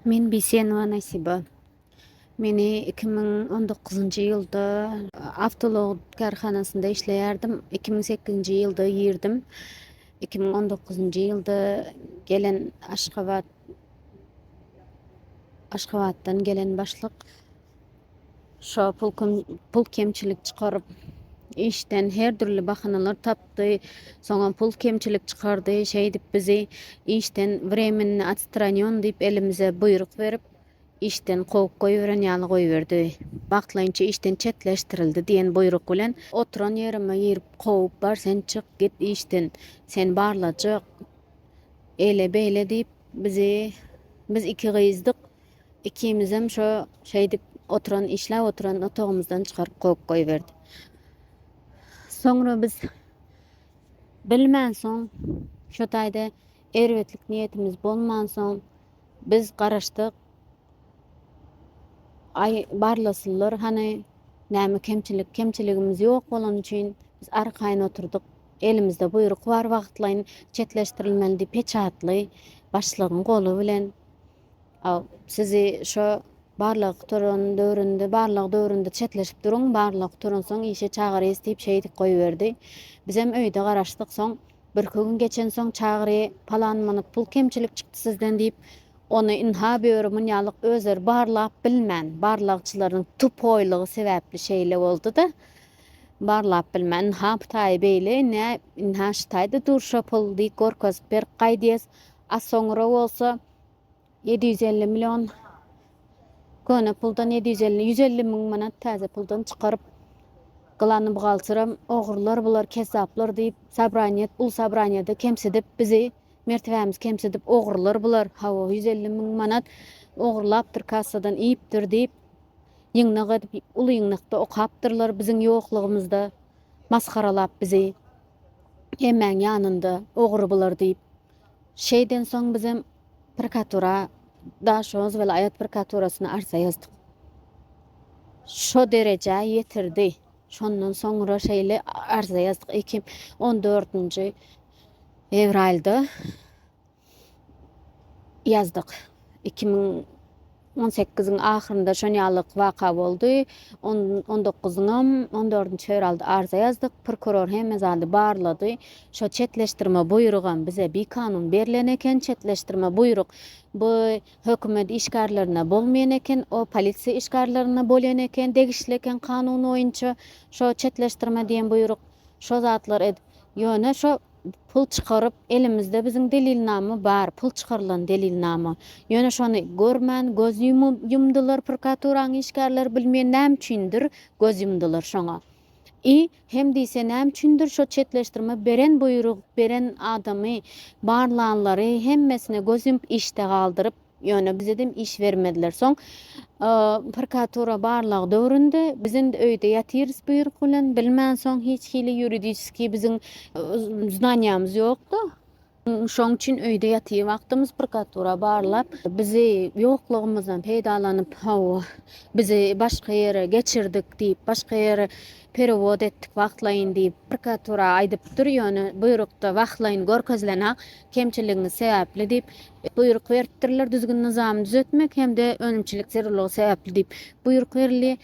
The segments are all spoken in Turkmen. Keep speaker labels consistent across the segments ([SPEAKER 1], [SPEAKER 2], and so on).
[SPEAKER 1] Men Bisenova Nasiba. Meni iki müň on dokuzynjy ýylda awtolog kärhanasynda işleýärdim. Iki müň sekizinji ýylda girdim. Iki müň on dokuzynjy ýylda gelen Aşgabat Aşgabatdan gelen başlyk Şa pul kemçilik çykaryp, işden her dürli bahanalar tapdy. Soňam pul kemçilik çykardy. Şeýdip bizi işden wremenni atstranýon diýip elimize buýruk berip, işden kowup goýberen ýaly goýberdi. Wagtlaýynça işden çetleşdirildi diýen buýruk bilen. Oturan ýerime girip kowup, Bar sen çyk git işden, seni barlajak. Eýle-beýle diýip bizi, biz iki gyzdyk, Ikimizem şo şeýdip oturan, işläp oturan otagymyzdan çykaryp kowup goýberdi. Soňra biz bilmänsoň, şo taýda erbetlik niýetimiz bolmansoň, biz garaşdyk. Aý, barlasynlar hany, näme kemçilik, kemçiligimiz ýok bolany üçin biz arkaýyn oturdyk. Elimizde buýruk bar wagtlaýyn çetleşdirilmeli diýip peçatly başlygyň goly bilen Aw, sizi şo barlagy gutaran döwründe, barlag döwründe çetleşip duruň, barlag gutaransoň işe çagyrys diýip şeýdip goýberdi. Bizem öýde garaşdyk. Soň birki gün geçensoň Çagry, palan manat pul kemçilik çykdy sizden diýip, ony ynha böri munýalyk özleri barlap bilmän, barlagçylaryň tupoýlygy sebäpli şeýle boldy-da, barlap bilmän, ynha bu taýy beýle, ine, ynha şu taýda dur şo pul diýip görkezip berip gaýdýas. A soňra bolsa. 750 million köne puldan 750 150 müň manat täze puldan çykaryp gylany buhgalteram ogurlar bular kezzaplar diýip sabraniýet ul sabraniýede kemsidip bizi mertebämiz kemsidip ogurlar bular hawa 150 müň manat ogurlapdyr kassadan iýipdir diýip ýyňnak edip ul ýyňnakda okapdyrlar biziň ýoklugymyzda masgaralap bizi hemmäň ýanynda ogry bular diýip Şeýden soň bizem prokuratura Daşoguz welaýat prokuraturasyna arza ýazdyk. Şo derejä ýetirdi. Şondan soňra şeýle arza ýazdyk. 2014-nji fewralda ýazdyk. Iki müň on sekiziň ahyrynda şon ýalyk waka boldy. On, on dokuzyňam, on dördünji fewralda arza ýazdyk. Prokuror hemme zady barlady. Şo çetleşdirme buýrugam bize bikanun berlen eken. Çetleşdirme buýruk bu hökümet işgärlerine bolmaýan eken, o polisiýa işgärlerine bolýan eken, degişli eken kanun boýunça şo çetleşdirme diýen buýruk. Şo zatlar edip, ýöne şo. Pul çykaryp, elimizde biziň delilnama bar, pul çykarylan delilnama. Ýöne şony görmän göz ýumdylar prokuraturaň işgärleri bilmeýän näme üçindir göz ýumdylar şoňa. I hem diýse näme üçindir şo çetleşdirme beren buýruk beren adamy barlanlary hemmesine göz ýumup işde galdyryp, Ýöne bizedem iş bermediler. Soň prkatura barlag döwründe biz indi öýde ýatyrys buýruk bilen, bilmän soň hiç hili ýuridiçskiý biziň znanýamyz ýokdy. Şoň üçin öýde ýatyr wagtymyz prkatura barlap, bizi ýoklugymyzdan peýdalanyp, hawa, bizi başga ýere geçirdik diýip, başga ýere perewod etdik wagtlaýyn diýip prkatura aýdypdyr. Ýöne buýrukda wagtlaýyn görkezilenok. kemçiligiňiz sebäpli diýip, buýruk beripdirler, düzgün-nyzamy düzetmek hem-de önümçilik zerurlygy sebäpli diýip, buýruk berildi.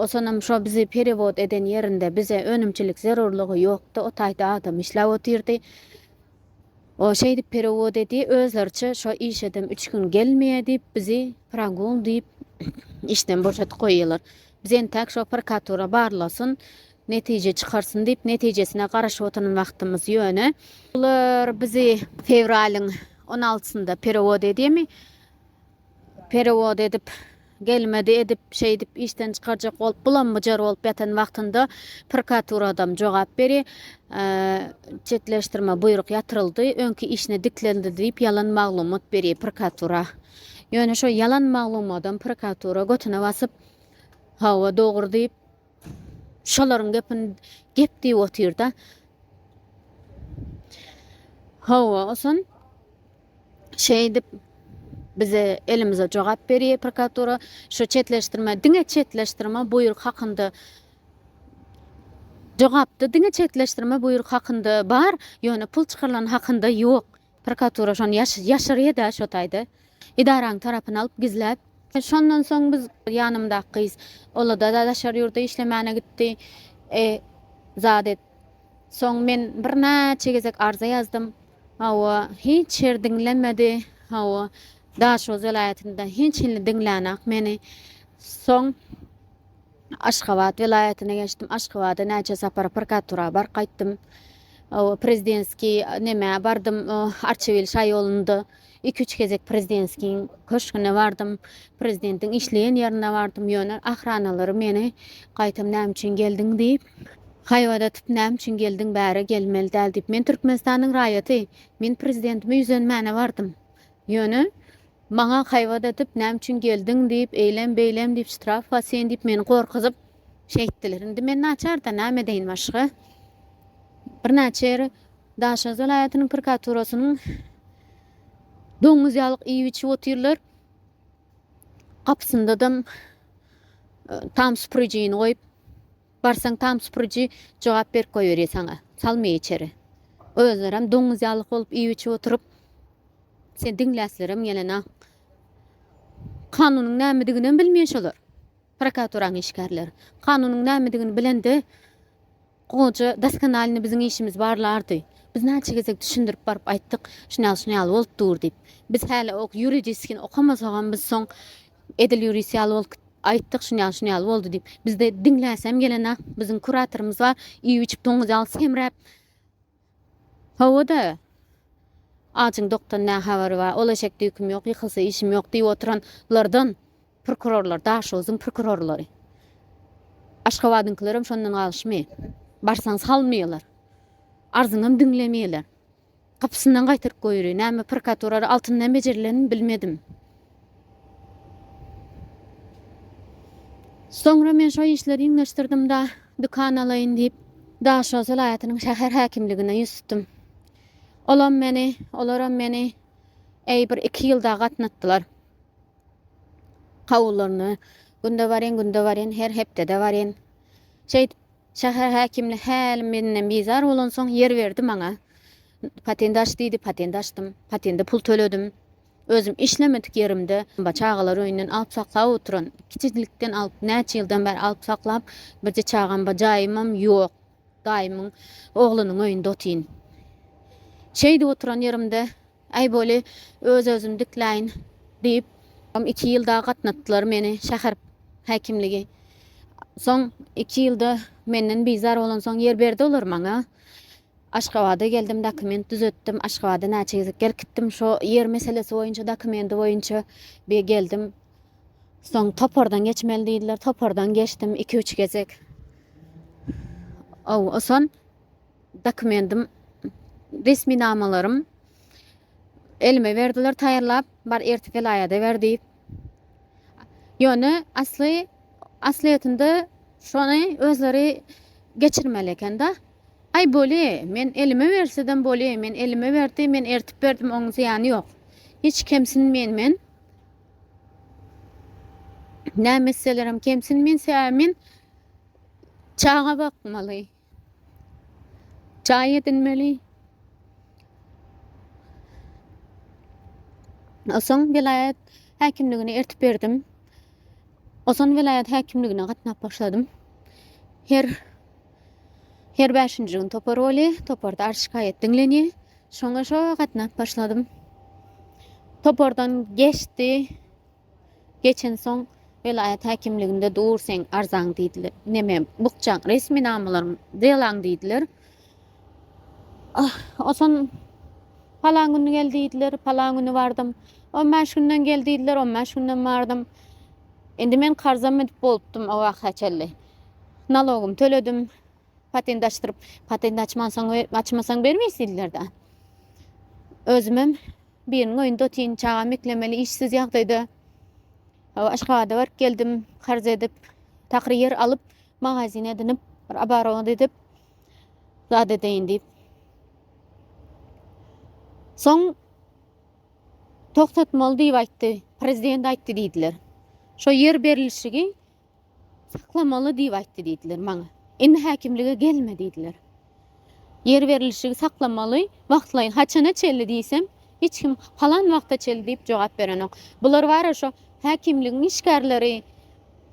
[SPEAKER 1] Sonam şo bizi perewod eden ýerinde bize önümçilik zerurlygy ýokdy, o taýda adam işläp otyrdy. O şeýdip perewod edi, özleriçe şo işedem üç gün gelmeýe diýip, bizi progul diýip, işden boşadyp goýýarlar. Biz entäk şo prokuratura barlasyn, netije çykarsyn diýip netijesine garaşyp oturan wagtymyz ýöne bular bizi fewralyň on altysynda perewod edýärmi perewod edip gelmedi edip şeýdip işden çykarjak bolup bulam byjar bolup ýatan wagtynda prokaturadam jogap beri çetleşdirme buýruk ýatyryldy öňki işine diklendi diýip ýalan maglumat beri prokatura ýöne şo ýalan maglumadam prokatura götüne basyp hawa dogry diýip Şolaryň gepini gep diýip otyr-da. Hawa, oson şeýdip bize elimize jogap berýär prokuratura. Şu çetleşdirme, diňe çetleşdirme buýruk hakynda jogapda diňe çetleşdirme buýruk hakynda bar, ýöne pul çykarylan hakynda ýok. Prokuratura şony ýaşyrýa-da şo taýda. Edaraň tarapyny alyp gizläp. Şondan soň biz, ýanymdaky gyz, ol-da daşary ýurda işlemäne gitdi. E, zat et. Soň men birnäçe gezek arza ýazdym. Hawa, hiç ýer diňlemedi. Hawa, Daşoguz welaýatynda hiç hili diňlänak meni. Soň. Aşgabat welaýatyna geçdim. Aşgabada näçe sapar prokuratura baryp gaýtdym. Prezidentskiý nämä bardym, Arçabil şa ýolunda. Iki-üç gezek prezidentskiň köşgüne bardym. Prezidentiň işleýän ýerine bardym. Ýöne ahranalary meni gaýtam näme üçin geldiň diýip, haýbadatyp, näme üçin geldiň bäri, gelmeli däl diýip. Men Türkmenistanyň raýaty. Men prezidentime ýüzenmäne bardym. Ýöne, maňa haýbat atyp, näme üçin geldiň diýip, eýlem, beýlem diýip, ştraf bar sen diýip, meni gorkuzyp, şeýtdiler. Indi men naçar-da, näme edeýin başga? Birnäçe ýere Daşoguz welaýatynyň prokaturasynyň doňuz ýalyk iýip-içip otyrlar. Gapysynda-da tam süpürijini goýup. Barsaň tam süpüriji jogap berip goýberýär saňa. Salmaýar içeri. Özlerem doňuz ýaly bolup iýip-içip oturyp, seni diňläslerem gelena. Kanunyň nämediginem bilmeýän şolar. Prokuraturaň işgärleri. Kanunyň nämedigini bilende, goja doskonalny biziň işimiz barlardy. Biz näçe gezek düşündirip baryp aýtdyk, şuny ýaly, şuny ýaly bolup dur diýip. Biz häli ok ýuridiskini okamasagam biz soň Edil ýörüs ýaly bolk aýtdyk şun ýaly şun ýaly boldy diýip. Bizde diňläsem gelena biziň kuratorymyz bar iýip-içip doňuz ýaly semräp Hawa-da ajyň dokdan nä habary bar ol eşek düýkim ýok ýykylsa işim ýok diýip oturan lardan prokurorlar Daşoguzyň prokurorlary Aşgabadyňkylarem şondan galyşmy barsaň salmýalar arzyňam diňlemýaler. Gapysyndan gaýtaryp goýry. Näme prokuratura altyndan bejerilenmi, bilmedim. Soňra men şo işleri iňňeşdirdim-de, dükan alaýyn diýip, Daşow welaýatynyň şäher häkimligine ýüz tutdum. Olam meni, olaram meni äý bir iki ýylda gatnatdylar. Kabullarynda günde barýan, günde barýan, her hepdede barýan. Şeýdip, Şäher häkimine hälim menden bizar bolansoň, ýer berdi maňa. Patent aç diýdi, patent açdym. Patende pul töledim. Özüm işlemedik ýerimde, çagalar öýünden alyp saklap oturan, kiçijilikden alyp, näçe ýyldan bäri alyp saklap, birje çagam bar, jaýymam ýok. Daýymyň oglunyň öýünde otyryn. Şeýdip oturan ýerimde, Äý boly, öz-özümi dikläýin diýip, iki ýyl dagy gatnatdylar meni şäher häkimligi. Soň iki ýylda menden bizar bolansoň ýer berdi olar maňa. Aşgabada geldim, dokument düzetdim. Aşgabada näçe gezek berkitdim. Şo ýer meselesi boýunça, dokumenti boýunça bir geldim. Soň topardan geçmeli diýdiler. Topardan geçdim iki-üç gezek. Ow, oson. dokumentim, resminamalarym elime berdiler taýýarlap, bar ertir welaýata ber diýip. Ýöne asly aslyýetinde şony özleri geçirmeli eken-de. Aý boli, men elime bersedem boli, men elime berdi, men ertip berdim, onuň zyýany ýok. Hiç kemsinmeýin men. Näme etselerem kemsinmeýin, sebäbi men çaga bakmaly. Jaý edinmeli. Oson welaýat häkimligine eltip berdim. Oson welaýat häkimligine gatnap başladym. Her her bäşinji gün topar bolýa, toparda arz şikaýat diňlenýä. Şoňa şo gatnap başladym. Topardan geçdi. Geçensoň, Welaýat häkimliginde dur seň arzaň diýdiler. Neme, bukjaň resminamalaryň, delaň diýdiler. Oson, Palan güni gel diýdiler, palan güni bardym. On bäş günden gel diýdiler, on bäş günden bardym. Indi men karza münüp bolupdym o wagta çenli. Nalogymy töledim, patent açdyryp, patent açmansoň, açmasaň bermeýs diýdiler-dä. Özümem. Biriniň öýünde otyryn, çagam eklemeli, işsiz ýagdaýda. Aşgabada baryp geldim, karz edip, takyr ýer alyp, magazin edinip, bir abarowa edip, zat edeýin diýip. Soň togtatmaly diýip aýtdy, prezident aýtdy diýdiler. Şo ýer berlişigi Saklamaly diýip aýtdy diýdiler maňa. Indi häkimlige gelme diýdiler. Ýer berlişigi saklamaly, wagtlaýyn. Haçana çenli diýsem, hiç kim palan wagta çenli diýip jogap berenok. Bular bara şo häkimligiň işgärleri,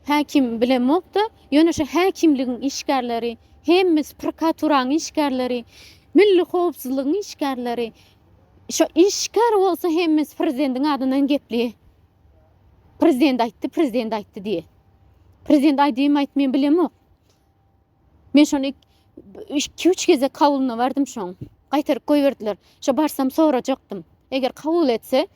[SPEAKER 1] häkim bilemok-da, ýöne şo häkimligiň işgärleri, hemmesi prokaturaň işgärleri, milli howpsuzlygyň işgärleri, şo işgär bolsa hemmesi prezidentiň adyndan gepli. Prezident aýtdy, prezident aýtdy diýe. Prezident aýdymy aýt men bilemok. Men şony iki üç gezek kabulyna bardym şoň. Gaýtaryp goýberdiler. Şo barsam sorajakdym. Eger kabul etse,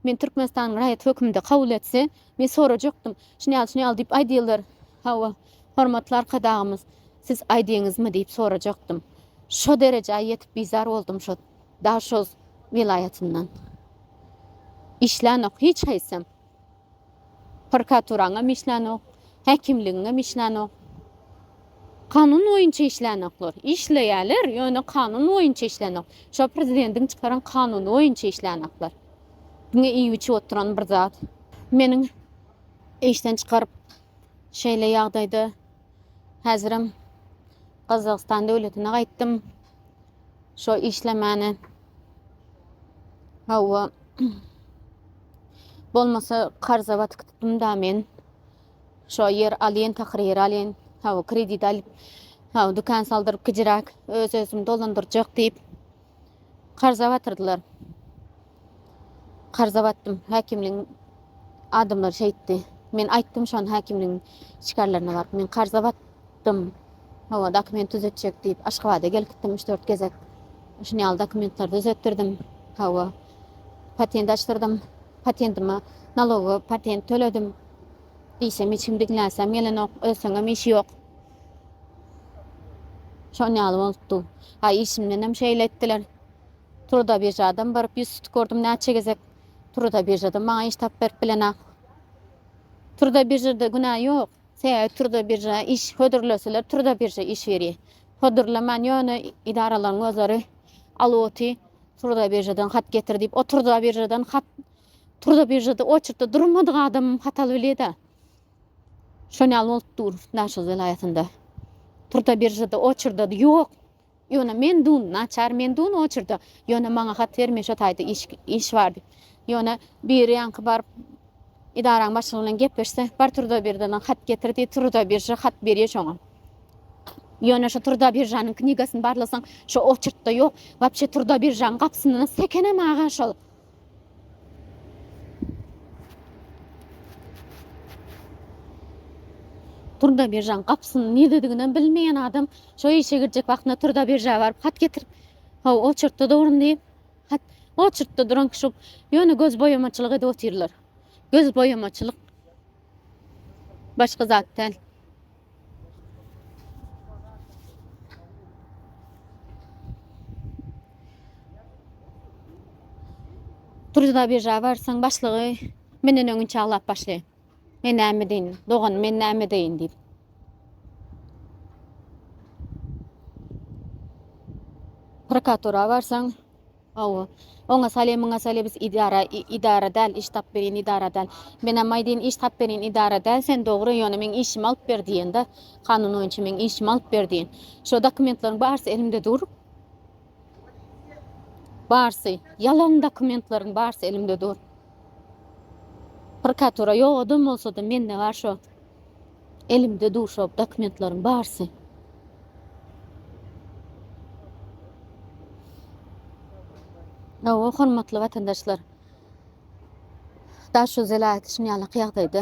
[SPEAKER 1] men Türkmenistanyň raýat hökümde kabul etse, men sorajakdym. Şuny al, şuny al diýip aýdýarlar. Hawa, hormatly arkadagymyz, siz aýdyňyzmy diýip sorajakdym. Şo derejä ýetip bizar boldum şo Daşoguz welaýatyndan işlänok hiç haýsam. Prokuraturaňam işlänok, häkimligiňem işlänok. Kanun boýunça işlänoklar. Işleýärler, ýöne kanun boýunça işlänok. Şo prezidentiň çykaran kanuny boýunça işlänoklar. Diňe iýip-içip oturan bir zat. Meniň işden çykaryp şeýle ýagdaýda Häzirem Gazagystan döwletine gaýtdym. Şo işlemäne. Hawa. Bolmasa karza batyk tutdum da men. Şo ýer alýan, takyr ýer alýan. Hawa, kredit alyp, hawa, dükan saldyryp kijiräk öz-özümi dolandyrjak diýip. Karza batyrdylar. Karza batdym. Häkimligiň adamlary şeýtdi. Men aýtdym şony häkimligiň şikarlaryna baryp. Men karza batdym. Hawa, dokument düzetjek diýip, Aşgabada gelip gitdim üç-dört gezek. Şuny ýaly dokumentleri düzetdirdim. Hawa. Patent açdyrdym. Patentime naloga patent töledim. Diýsem hiç kim diňläsem gelenok. Ölseňem işi ýok. Şon ýaly bolupdy. Haý, işimdenem şeýle etdiler. Truda biržadan baryp ýüz tutup gördüm näçe gezek. Truda biržadan maňa iş tapyp berip bilenok. Truda biržada günä ýok. Sebäbi truda birža iş hödürleseler truda birža iş berýär. Hödürleman ýöne edaralaryň gözleri alwoty truda biržadan hat getir diýip o truda biržadan hat truda biržada oçertde durmadyk adamym hat alyp bilýär-de. Şonýaly bolup dur Daşoguz welaýatynda. Purta biržada oçerdady ýok. Ýöne men dun, naçar men dun oçerda. Ýöne maňa hat ber men şo taýda iş iş bar diýip. Ýöne biri ýaňky baryp idaraň başlygy bilen gepleşse, bar turda birdadan hat getir diýip turda birja hat berýär şoňa. Ýöne şo turda biržanyň knigasyny barlasaň, şo oçertda ýok. Wapşe turda biržanyň gapysyndan sekenem aga şol. Turda biržaň gapysyny niredediginem bilmeýän adam şo işe girjek wagtynda turda birža baryp hat getirip, haw oçurtda durun diýip, hat oçurtda duran kişi ýöne göz boýamaçylyk edip otyrlar. Göz boýamaçylyk başga zat däl. Turda birja barsaň başlygy menden öňinçe aglap başlaýar. Men näme deýin, dogan, men näme deýin diýip. Prokuratura barsaň, Hawa. Oňa sale muňa sale biz idara idara däl iş tap berin idara däl. Menem aýdyn iş tap berin idara däl sen dogry ýöne meň işimi alyp ber diýende kanun boýunça meň işimi alyp ber diýen. Şo dokumentleriň barsy elimde dur. Barsy ýalan dokumentleriň barsy elimde dur. Prkatura ýok adam bolsada mende bar şo. Elimde dur şo dokumentleriň barsy. Hawa, hormatly watandaşlar. Daşoguz welaýaty şuny ýaly ýagdaýda.